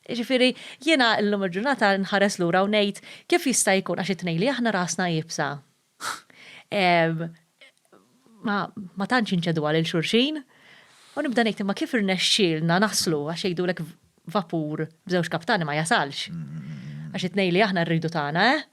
Jiġifieri, jiena llum il-ġurnata nħares lura u ngħid, kif jista' jkun għax it-tnejn li aħna rasna iebsa ma tantx inċeduha lil xulxin? U nibda ngħid imma kif irnexxielna naslu għax jgħidulek vapur b'żewġ kaptani ma jasalx. Għax it-tnejn li aħna rridu tagħna, eh?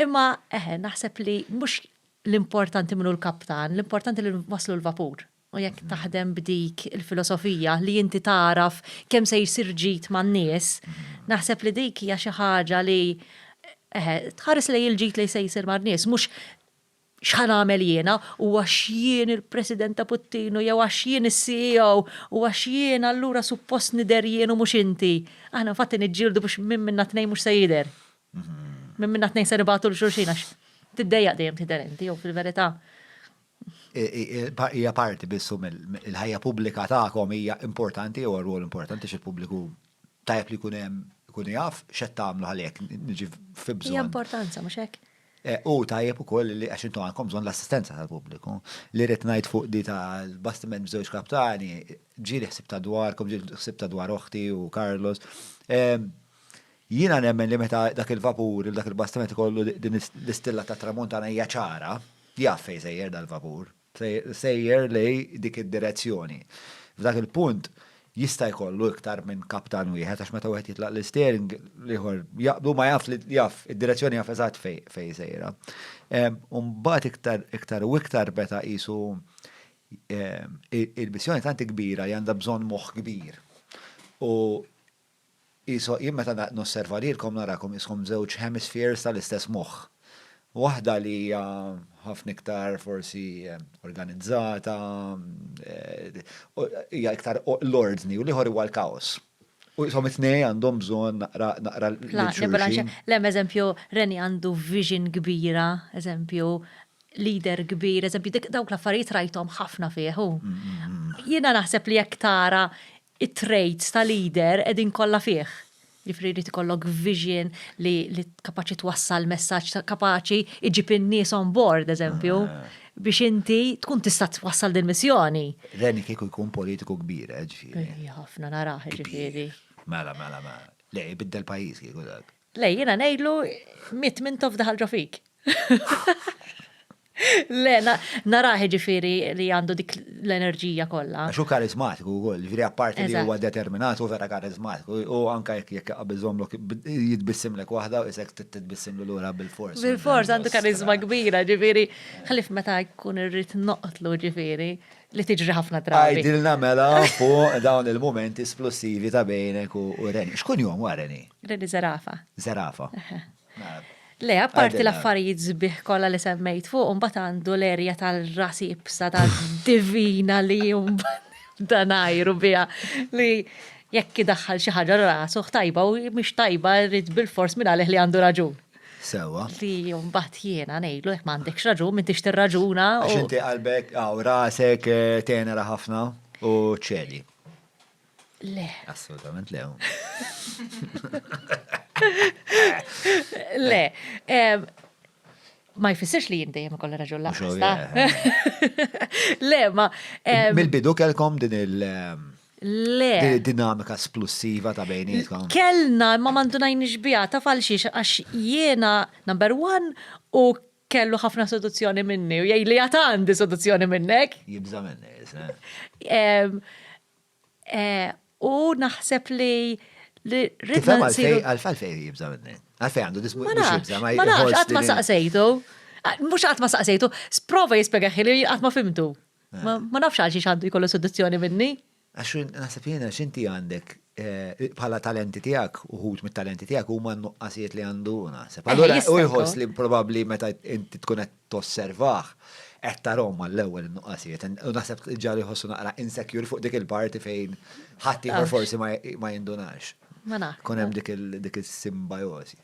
Imma eħe, naħseb li mhux l-importanti min hu l-kaptan, l-importanti li waslu l-vapur. U jekk taħdem b'dik il-filosofija li inti tagħraf kemm se jsir ġid man-nies, naħseb li dik hija xi ħaġa li eħe, tħares lejn il-ġid li se jsir man-nies, mhux x'ħa nagħmel jiena u għax jien il-President ta' Puttinu jew għax jien is-CEO u għax jien allura suppost nidher jien u mhux inti. Aħna fatti niġġieldu biex minn minna tnejn mhux se jidher. Minn minna tnejn se nibgħatu l xulxin għax tiddejjaq dejjem tidher inti jew fil-verità Hija parti biss il-ħajja pubblika tagħkom hija importanti jew rwol importanti x'il-pubbliku tajjeb li jkun hemm ikun jaf x'qed tagħmlu għalhekk niġi fi bżonn. Hija importanza mhux hekk? Eh, u tajjeb ukoll li għax intom għandkom bżonn l-assistenza tal-pubbliku. Li rrid ngħid fuq di tal-bastiment b'żewġ kaptani, ġieli ħsib ta' dwarkom, ġieli ħsib ta' dwar oħti u Carlos. Ehm, Jiena nemmen li meta dak il-vapur il dak il-bastiment ikollu din l-istilla tat-Tramuntana hija ċara, jaf fejn sejjer dal-vapur. Sejjer lejn dik id-direzzjoni. F'dak il-punt jista' jkollu iktar minn kaptan wieħed għax meta wieħed jitlaq l-isteering l-ieħor jaqbdu ma jaf li jaf id-direzzjoni jaf eżatt fejn fejn sejra. U mbagħad iktar iktar u iktar meta qisu il-missjoni tant kbira li għandha bżonn moħħ kbir. U Qisu, jien meta nosserva lilkom narakom qiskom żewġ hemispheres tal-istess moħħ. Waħda li hija ħafna iktar forsi organizzata, hija iktar l-ordni u l-ieħor huwa l-kaos. U qishom it-tnejn għandhom bżonn naqra naqra l-xulxin. Le, eżempju, Reni għandu vision kbira, eżempju, leader kbir, eżempju, dawk l-affarijiet rajthom ħafna fih hu. Jiena naħseb li jekk tara it-traits ta' leader qegħdin kollha fih. Jiġifieri jrid ikollok vision li kapaċi twassal messaġġ ta' kapaċi iġib in-nies on board eżempju biex inti tkun tista' twassal din missjoni. Reni kieku jkun politiku kbir eh ġifieri. Ħafna narah ġifieri. Mela mela mela. Le jbiddel pajjiż kieku dak. Le, jiena ngħidlu mitt mintof daħal ġo fik. Le, narah ġifiri li għandu dik l-enerġija kollha. Xu karizmatiku wkoll, ġifiri apparti li huwa determinat u vera karizmatiku u anke jekk jekk qabbiżhomlok jitbissimlek waħda u isek titbissimlu lura bil-fors. Bil-fors għandu karizma kbira, ġifiri, ħlif meta jkun irrid noqtlu ġifiri. li tiġri ħafna drabi. Għidilna mela fuq dawn il-mumenti splussivi ta' bejnek u Reni. Xkun jom wa Reni? Reni Zerafa. Zerafa. Le, apparti l-affarijiet zbih kolla li semmejt fuq, un għandu l-erja tal-ras ibsa ta' divina li jum danajru bija li jekk daħħal xi ħaġa rasu tajba u mhix tajba rrid bil-fors minn għalih li għandu raġun. Sewa. Li mbagħad jiena ngħidlu jekk m'għandekx raġun, m'intix tirraġuna. Għax inti qalbek, aw rasek eh, tenera ħafna u ċedi. Le. Assolutament le. Le. Ma jfissirx li jinti jem kolla raġun laqqa. Le, ma. Mil-bidu kelkom din il- Le. Din id-dinamika splussiva ta' bejnietkom. Kellna imma ma ndunajniex biha taf għal xiex għax jiena number one u kellu ħafna seduzzjoni minni u jgħidli għad għandi seduzzjoni minnek. Jibża' minni, isma'. U naħseb li ridna nsiru. Għalfejn jibża' minni? Għalfejn għandu dismu jibża' minni? Ma nafx, qatt ma saqsejtu. Mhux qatt ma saqsejtu, sprova jispjegaħ li qatt ma fimtu. Ma nafx għal xiex għandu jkollu seduzzjoni minni. Għax naħseb jiena xinti għandek eh, bħala talenti tiegħek uħut mit-talenti tiegħek huma nuqqasijiet li għandu naħseb. Eh, Allura u jħoss li probabbli meta inti tkun qed tosservah qed tarhom għall-ewwel nuqqasijiet. U naħseb ġali jħossu naqra insecure fuq dik il-parti fejn ħadd forsi ma jindunax. Ma nafx. Kun hemm dik il-simbajosi.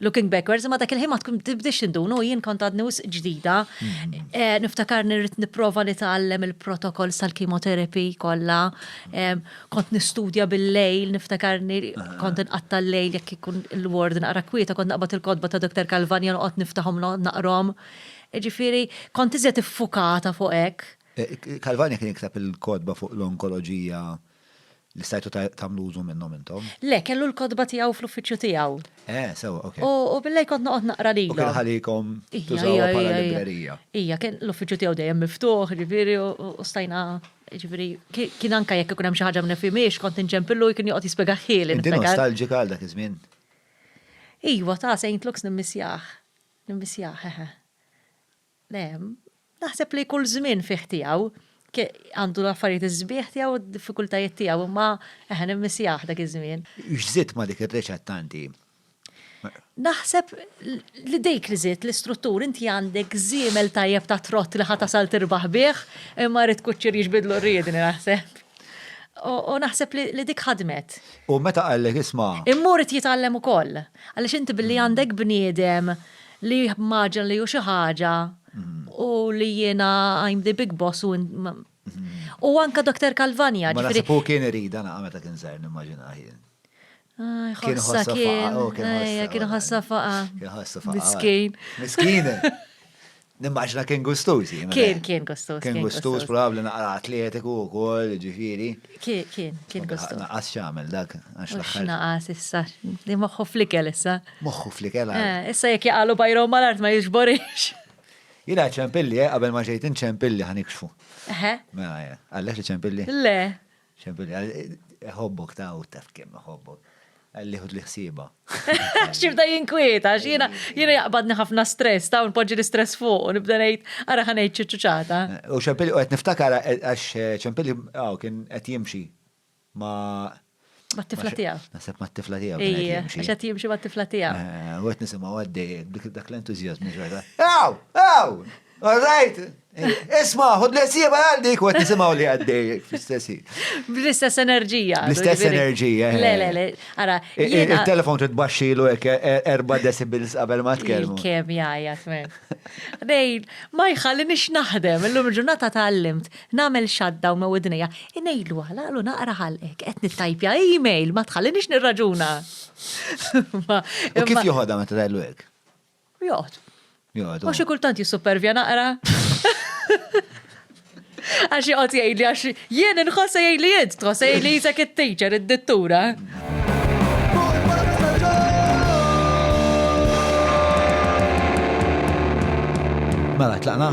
looking backwards, ma dak il-ħin ma tkun tibdix indunu, jien kont għadni wisq ġdida. Mm. Eh, niftakar nirrit niprofa nitgħallem il-protokoll tal-kimoterapi kollha. Kont nistudja bil-lejl, niftakar kont nqatta l-lejl jekk ikun il-ward naqra kwieta, kont naqbad il-kodba ta' Dr. Kalvanja noqgħod niftaħhom naqrom. Ġifieri, kont iżjed iffukata fuq hekk. Eh, Kalvanja kien jikteb il-kodba fuq l-onkoloġija Li stajtu tagħmlu użu minnhom intom? Le, kellu l-kotba tiegħu fl-uffiċċju tiegħu. Eh, sew, ok. U billej kont noqgħod naqra lilhom. U kien ħalikom tużawha bħala librerija. Ija, kien l-uffiċċju tiegħu dejjem miftuħ, ġifieri, u stajna Ġifiri, kien anka jekk ikun hemm xi ħaġa minn fimiex, kont inġempillu kien joqgħod jispjega ħieli. Inti nostalġika għal dak iż-żmien? Iwa, ta' Saint Lux nimmissjah. Nimmissjah, hehe. Le, naħseb li kull żmien fih tiegħu, għandu l-affarijiet is-sbieħ tiegħu u d-diffikultajiet tiegħu, imma eħe nimmissjah dak iż-żmien. X'żidt ma' dik ir-riċetta inti? Naħseb li dik li żidt, l-istruttur, inti għandek żiemel tajjeb ta' trott li ħa tasal tirbaħ bih, imma rrid kuċċier jiġbidlu r-riedni naħseb. U naħseb li dik ħadmet. U meta qallek isma'. Imma hu rrid jitgħallem ukoll. Għaliex inti billi għandek bniedem li maġna li hu xi ħaġa u li jiena I'm the big boss u u anka Dr. Kalvanja. Ma naħseb hu kien irid naqa' meta kien żgħir nimmaġina jien. Kien ħossa kien. Kien ħossa faqa. Kien ħossa faqa. Miskin. Miskin. Nimmaġna kien gustuż. Kien, kien gustuż. Kien gustuż probabli naqra atletiku wkoll, ġifieri. Kien, kien, kien gustu. Naqas xamel dak, għax l-axħar. Naqas issa, li moħħu flikel issa. Moħħu flikel għal. Eh, issa jek jaqalu bajrom mal-art ma jixborix. Jina ċempilli, eh, qabel ma ġejt ċempilli ħanikxfu. Eħe. Mela, eh, għallek li ċempilli? Le. ċempilli, ħobbok ta' u taf kem ħobbok. Qalli ħudli ħsiebha. Għax jibda jinkwieta, għax jiena jiena jaqbadni ħafna stress, ta' npoġġi l-istress fuq u nibda ngħid ara ħa ngħid xi ċuċata. U Ċempilli u qed niftakar għax Ċempilli hawn kien qed jimxi ma' Mat-tifla tiegħu. Naħseb mat-tifla tiegħu kien qed jimxi. Għax qed jimxi mat-tifla tiegħu. U qed nisimgħu għaddej dak l-entużjażmu xorta. Hawn! Hawn! All right. Isma, ħud l-esieba għal dik u għet nisimaw li għaddej fl-istessi. Bl-istess enerġija. Bl-istess enerġija. Eh. Le, le, le. Ara, il-telefon trid baxxilu hekk e- e- erba' decibels qabel ma tkellmu. Kemm jgħajja tmen. Dejn, ma jħalli nix naħdem, illum ġurnata tal-limt, nagħmel xadda u ma widnija, inejlu għala għalu naqra ħalqek, qed nittajpja e-mail, ma tħalli nix nirraġuna. Kif joħodha meta tgħidlu hekk? Joqgħod. Joqgħod. U xi kultant jissupervja naqra. Għax joqgħod jgħidli għax jien inħoss jgħidli int, tħoss jgħidli jisek it-teacher, id-dittura. Mela, tlaqna?